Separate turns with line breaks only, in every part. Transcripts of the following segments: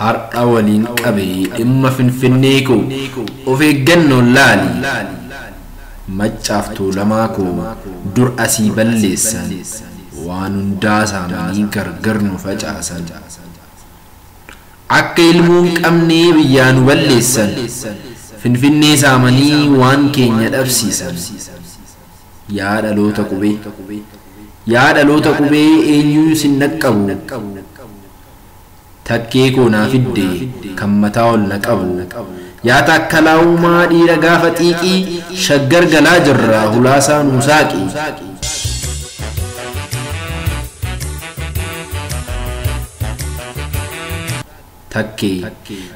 Hardha waliin qabe dhimma finfinnee koo of eeggannoon laali Maccaaf Tuulamaa koo dur asii balleessan waan hundaa saamanii gargar nu facaasan Akka ilmoo hin qabnee biyyaa nu balleessan Finfinnee saamanii waan keenya dhabsiisan Yaa dhaloota qubee Yaa dhaloota qubee eenyuu sin dhaqqabu Takkee koo naa fidde kan mataa ol na qabu Yaa taakkalaa uumaa dhiira gaafa xiiqii Shaggar galaa jirra hulaasaa nuu saaqi. Takkee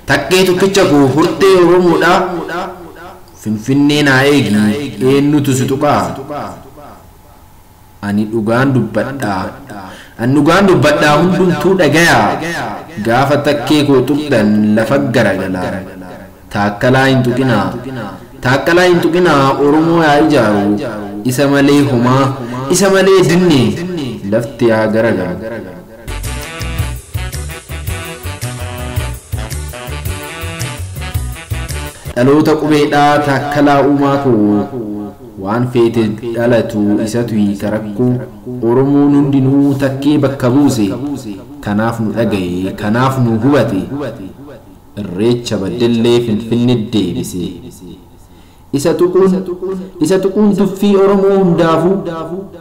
Takkee tokkicha koo hortee oromoodhaa Finfinnee naa eegi eennutu si tuqaa. Ani dhugaan dubbadhaa. An dhugaan dubbadhaa hundumtuu dhagayaa gaafa takkee koo tuqxan lafa garagalaan taakkalaa hin tuqinaa taaqqalaa hin tuqinaa oromoo yaa ijaaru isa malee homaa isa malee dinne lafti yaa garagalu. Dhaloota qubeedhaa taakkalaa uumaa koo. Waan feete dhalatu isatu hiika rakko oromoon hundinuu takkee bakka buuse kanaaf nu dhagahe kanaaf nu hubate irreecha baddellee finfinne deebise isa tuquun isa tuquun tuffii oromoo hundaafu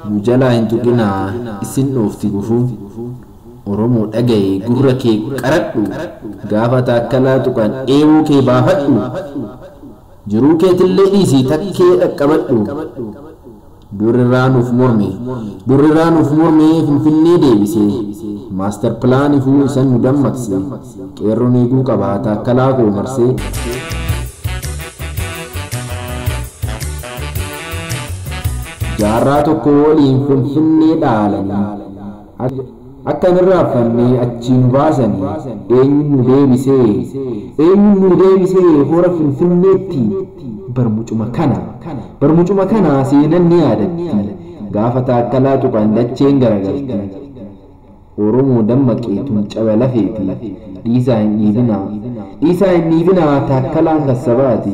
nu jalaa hin tuqinaa issin dhoofti gufuun oromoo dhagahe gurra kee qaradhu gaafa taakkalaa tuqan eeboo kee baafadhu Jiruu keetillee dhiisii takkee dhaqqabadhu. Durriraa nuuf morme. Durriraa nuuf mormee Finfinnee deebise. Master plan ifuu isan nu dammaqse. Qeerroon eeguu qaba Taakkalaa koo marsee. Jaarraa tokkoo oliin Finfinnee dhaalanii. Akka hin irraanfanne achii nu baasanii eenyuun nu deebise? Eenyuun nu deebise hora Finfinneetti? Bar mucuma kana. Bar mucuma kana seenan ni yaadatti. Gaafa Taakkalaa tuqan dacheen garagalti. Oromoo dammaqi tun caba lafeeti. Dhiisaa hin dhiibinaa. Dhiisaa hin dhiibinaa Taakkalaan kan sabaati.